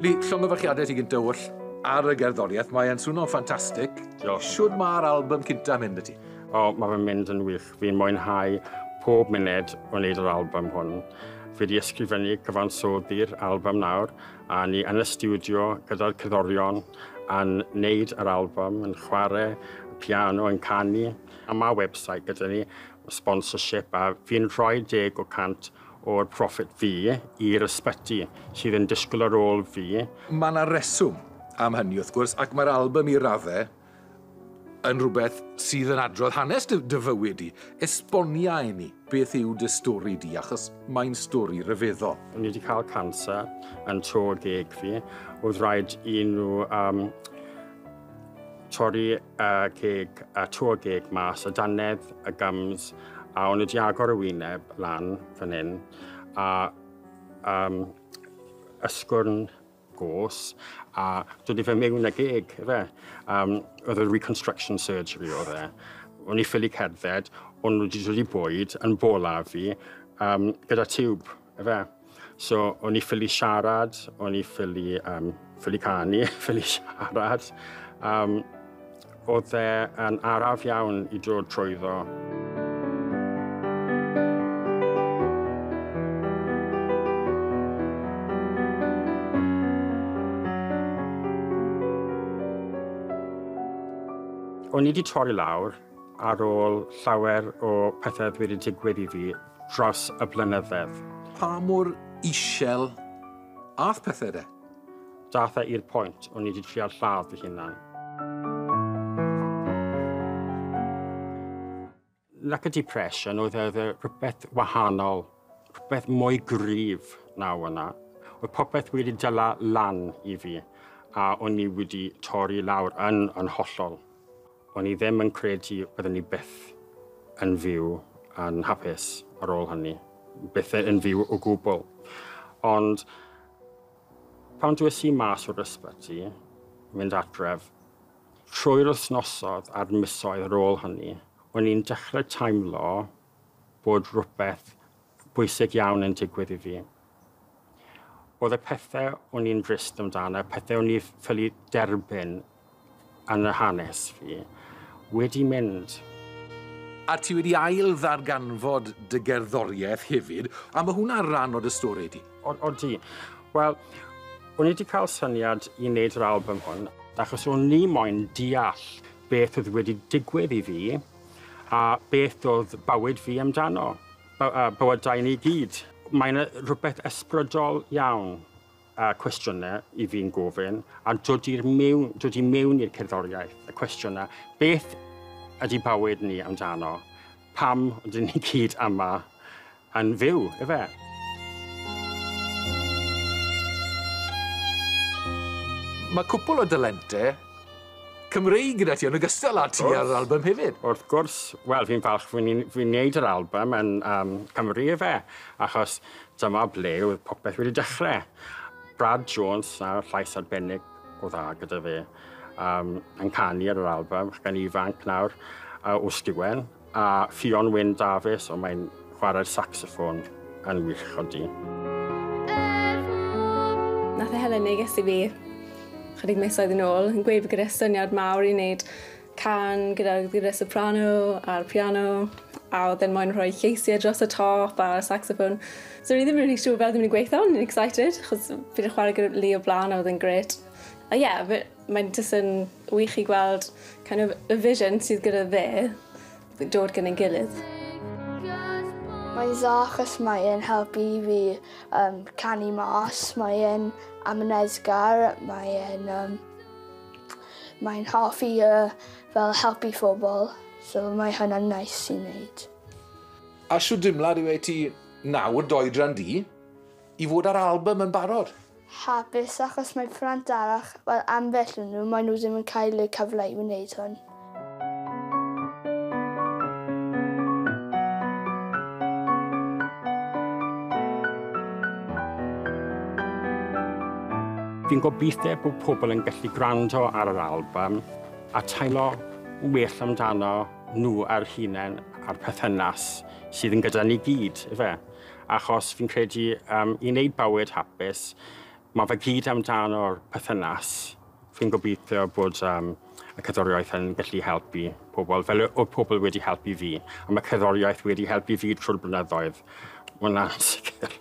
Lee, llongyfarchiadau ti gyntaf oll ar y gerddoriaeth. Mae'n swno ffantastig. Diolch. Siwr mae'r album cyntaf mynd y ti? O, mae fe'n mynd yn wych. Fi'n mwynhau pob munud o wneud yr album hwn. Fi wedi ysgrifennu cyfansoddi'r album nawr A ni yn y stiwdio gyda'r cyddorion yn neud yr album, yn chwarae piano, yn canu. A mae website gyda ni, sponsorship, a fi'n rhoi deg o cant o'r profit fi i'r ysbyty sydd yn disgwyl ar ôl fi. Mae yna reswm am hynny wrth gwrs, ac mae'r album i raddau yn rhywbeth sydd yn adrodd hanes dy, dy fywyd di. Esbonia i ni beth yw dy stori di, achos mae'n stori rhyfeddol. Ni wedi cael cancer yn tro geg fi. Oedd rhaid i nhw um, torri y geg, y tro geg mas, y danedd, y gums, a o'n wedi agor y wyneb lan fan hyn, a um, ysgwrn gos a dod i fe mewn â geg fe. Um, oedd y reconstruction surgery oedd e. O'n i ffili cerdded, o'n nhw wedi dod i bwyd yn bola fi um, gyda tiwb fe. So o'n i ffili siarad, o'n i ffili, um, ffili canu, ffili siarad. Um, Oedd e yn araf iawn i dod trwyddo. O'n i wedi torri lawr ar ôl llawer o pethau oedd wedi digwydd i fi dros y blynyddedd. Pa mor isel ath pethau de? Datha i'r pwynt, o'n i wedi trial lladd fy hunan. Lack of depression oedd e, e rhywbeth wahanol, rhywbeth mwy gryf na yna. Oedd popeth wedi dyla lan i fi, a o'n i wedi torri lawr yn, yn hollol. O'n i ddim yn credu byddwn i byth yn fyw yn hapus ar ôl hynny. Byth yn fyw o gwbl. Ond Pan dwes i mas o'r ysbyty, mynd adref, trwy'r wythnosodd a'r misoedd ar ôl hynny, o'n i'n dechrau teimlo bod rhywbeth bwysig iawn yn digwydd i fi. Oedd y pethau o'n i'n drist amdano, pethau o'n i ffili derbyn Yn y hanes fi wedi mynd. A ti wedi ail ddarganfod dy gerddoriaeth hefyd, a mae hwnna ran o dy stori di? O, o di. Wel, o'n i wedi cael syniad i wneud yr album hwn, achos o'n ni moyn deall beth oedd wedi digwydd i fi, a beth oedd bywyd fi amdano, bywydau ni gyd. Mae'n rhywbeth ysbrydol iawn y cwestiynau i fi'n gofyn, a dod i'r mewn, dod i mewn i'r cerddoriaeth, y cwestiynau, beth ydy bywyd ni amdano? Pam ydyn ni gyd yma yn fyw, efe? Mae cwpl o dalentau Cymreig gyda ti, yn ogystal â ti wrth, ar yr album hefyd. Wrth gwrs, wel, fi'n falch fi'n fi wneud yr album yn um, Cymru, efe, achos Dyma ble oedd popeth wedi dechrau. Brad Jones, a llais arbennig o dda gyda fe, um, yn canu ar yr album, ac yn ifanc nawr uh, o Stiwen, a Ffion Wyn Dafis, ond mae'n chwarae'r saxoffon yn wych o di. Nath e helen neges i fi chydig misoedd yn ôl yn gweud bod gyda syniad mawr i wneud can gyda gitâr soprano a'r piano a oedd e'n moyn rhoi lleisiau dros y top a'r saxophone. So ni ddim yn rhi siŵr fel ddim yn gweithio, ni'n excited, chos fi wedi chwarae gyda Lee o blaen a oedd e'n gret. A ie, yeah, mae'n just yn wych i gweld kind of, y vision sydd gyda fe dod gyda'n gilydd. Mae'n dda achos mae e'n helpu i fi um, canu mas, mae e'n amyneddgar, mae e'n um, Mae'n hoffi yy fel helpu phobl so mae hwnna'n neis i neud. A shwt dimlad yw e i ti nawr, dy oedran di, i fod â'r albym yn barod? Hapus achos mae plant arall, wel ambell o nhw, mae nhw ddim yn cael y cyfle i wneud hwn. Fi'n gobeithio bod pobl yn gallu gwrando ar yr album a teimlo well amdano nhw ar hunain a'r perthynas sydd yn gyda ni gyd, efe. Achos fi'n credu um, i wneud bywyd hapus, mae fe gyd amdano'r perthynas. Fi'n gobeithio bod um, y cerddoriaeth yn gallu helpu pobl, fel y pobl wedi helpu fi. A mae cerddoriaeth wedi helpu fi trwy'r blynyddoedd. Mae hwnna'n sicr.